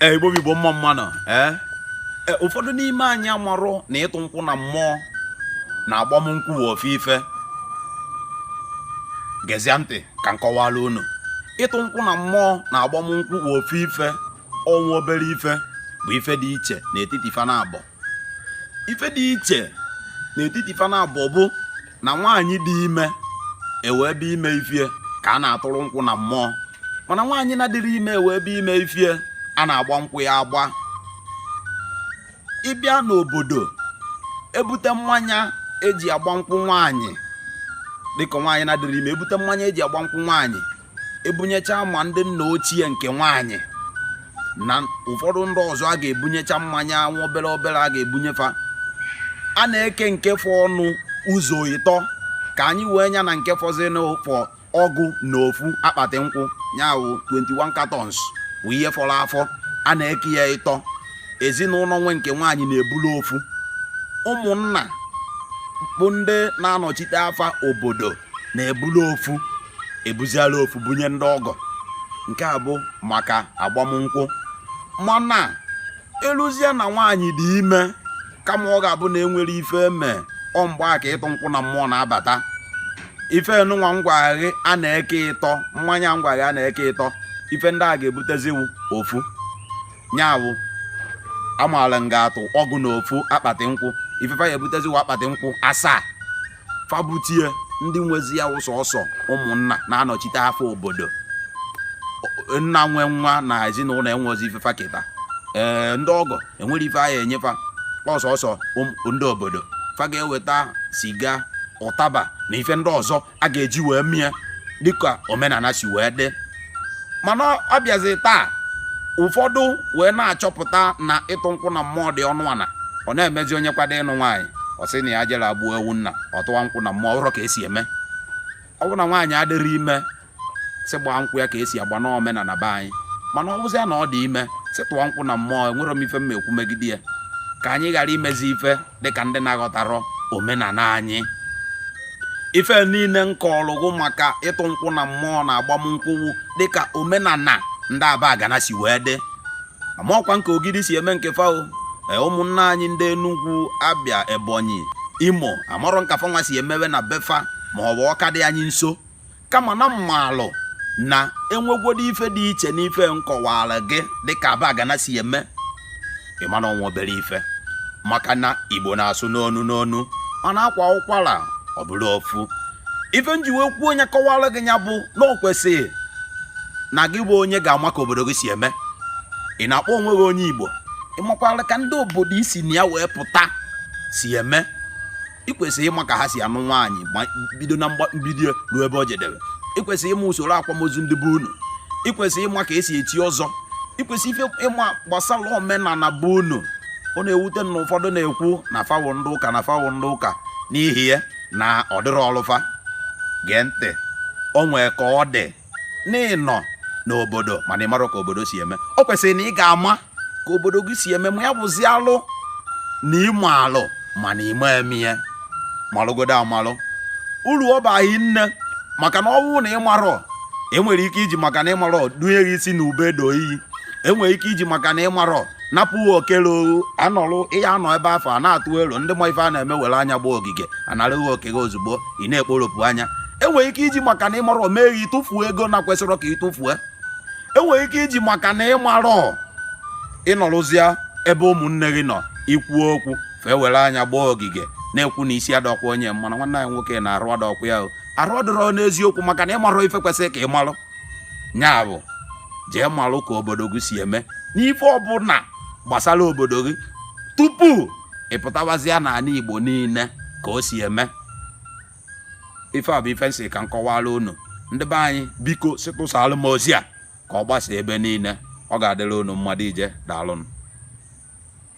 ee igbo bụ igbo mma mma nụ ee e, ụfọdụ n'ime anyị amarọ na ịtụ nkwụ na mmụọ na agbamnkwụ bụ ofu ife gezie ntị ka m kọwala unu ịtụ nkwụ na mmụọ na agbamnkwụ bụ ofu ife o nwe obere ife bụ ife dị iche n'etiti fa na abụọ ife dị iche n'etiti fa na abụọ bụ na nwaanyị dị ime ewee bịa ime ifie ka a na-atụrụ nkwụ na mmụọ mana nwaanyị na-adịrọ ime ewee bịa ime ifie a na-agba nkwụ ya agba ịbịa n'obodo ebute mmanya eji agba nkwụ nwaanyị dịka nwaanyị na-adịrọ ime ebute mmanya eji agba nkwụ nwaanyị ebunyecha ma ndị nna ochie nke nwaanyị na ụfọdụ ndị ọzọ a ga-ebunyecha mmanya nwa obere obere a ga-ebunyefa a na-eke nke fọnụ ụzọ ịtọ ka anyị wee nya na nke fọzịnụ fọ ọgụ na ofu akpati nkwụ nya wụ 21 cartons wụ ihe fọrọ afọ a na-eke ya ịtọ ezinụnọ nwe nke nwaanyị na-ebulu ofu ụmụnna bụ ndị na-anọchite afa obodo na-ebulu ofu ebuziala ofu bunye ndị ọgọ nke a bụ maka agbamnkwụ mana eluzie na nwaanyị dị ime kama ọ ga-abụ na enwerọ ife eme ọ mgbe a ka ịtụ nkwụ na mmụọ na-abata ife nụnwa m gwa gị a na-eke ịtọ mmanya m gwa gị a na-eke ịtọ ife ndị a ga-ebutezi wụ ofu nya wụ amaala nga atụ ọgụ na ofu akpati nkwụ ife fa ya-ebutezi wụ akpati nkwụ asaa fa butie ndị nwezi ya wụ sọsọ ụmụnna na-anọchite afa obodo nna nwe nwa na ezinụnọ enwezi ife fa keta ee ndị ọgọ enwerọ ife a ya-enye fa ọ sọsọ ndị obodo fa ga-eweta siga ụtaba na ife ndị ọzọ a ga-eji wee mie dịka omenana si wee dị mana ọ bịazi taa ụfọdụ wee na-achọpụta na ịtụ nkwụ na mmụọ dị ọnụ ana ọ na-emezi onye kwado ịnụ nwaanyị ọ sị na ya jere gbuo ewu nna ọ tụwa nkwụ na mmụọ ọ wụrọ ka esi eme ọ bụrụ na nwaanyị adịrọ ime sị gbaa nkwụ ya ka esi agba n'omenana be anyị mana ọ bụzịa na ọ dị ime sị tụọ nkwụ na mmụọ enwerọ m ife m ekwu megide ya ka anyị ghara imezi ife dịka ndị na-aghọtarọ omenana anyị ife niine m kọlụ gị maka ịtụ nkwụ na mmụọ na agbamnkwụ wụ dịka omenana ndị abagana si wee dị amarọkwa m ka ogidi si eme nke fa o e, ụmụnna anyị ndị enugwu abịa ebonyi imo amarọ m ka fanwa si emewe na befa ma ọ bụ ọka dị anyị nso kama na m malụ na enwegwodo ife dị iche n'ife nkọwara gị dịka abagana si eme ị ma na ọ wụ obere ife maka na igbo na-asụ n'onu n'onu mana akwaa ụkwara ọ bụrụ ofu ife nji wee kwuo nya kọwara gị ya bụ na o kwesịrị na gị bụ onye ga-ama ka obodo gị si eme ị na-akpọ onwe gị onye igbo ị makwara ka ndị obodo i si na ya wee pụta si eme ị kwesịrị ịma ka ha si anụ nwaanyị ma bido na mbido ruo ebe o jedebe ị kwesịrị ịma usoro akwamozu ndị be unu ị kwesịrị ịma ka esi echi ọzọ ị kwesịrị ife ịma gbasara omenala be unu ọ na-ewute m na ụfọdụ na-ekwu na fa wụ ndị ụka na fa wụ ndị ụka n'ihi ya na ọ dịrọ ọlụ fa gee ntị o nwee ka ọ dị n'ịnọ n'obodo mana ị marọ ka obodo si eme o kwesịrị na ị ga-ama ka obodo gị si eme ma ya bụzi alụ na ịma alụ mana ịma eme ya malụgodo amalụ uru ọ ba hi nne maka na ọ wụ na ịmarọ enwere ike iji maka na ịmarọ dunye gị isi na ube do iyi enwere ike iji maka na ịmarọ napụ oke ruru gị anọrụ ị ya anọ ebe afụ a na-atụ ilu ndị ma ife a na-eme were anya gbaa ogige anara gị oke gị ozugbo ị na-ekporopụ anya enwere ike iji maka na ịmarọ mee gị tụfuo ego na-ekwesịrọ ka ị tụfuo enwere ike iji maka na ịmarọ ịnọrụzịa ebe ụmụnne gị nọ i kwuo okwu fa ewere anya gbaa ogige na-ekwu na isi adọkwa onye mma na nwanne anyị nwoke na arụ adọkwa ya o. arụ adụrọ n'eziokwu maka na ịmarọ ife kwesịrị ka ị marụ nya bụ jee marụ ka obodo gị si eme n'ife ọbụla gbasara obodo gị tupu ị pụtawazịa n'ala igbo niile ka o si eme ife a bụ ife nsị ka m kọwara unu ndị be anyị biko sịtụsara m ozi a ka ọ gbasa ebe niile ọ ga-adịrị unu mma dị ije daalụnụ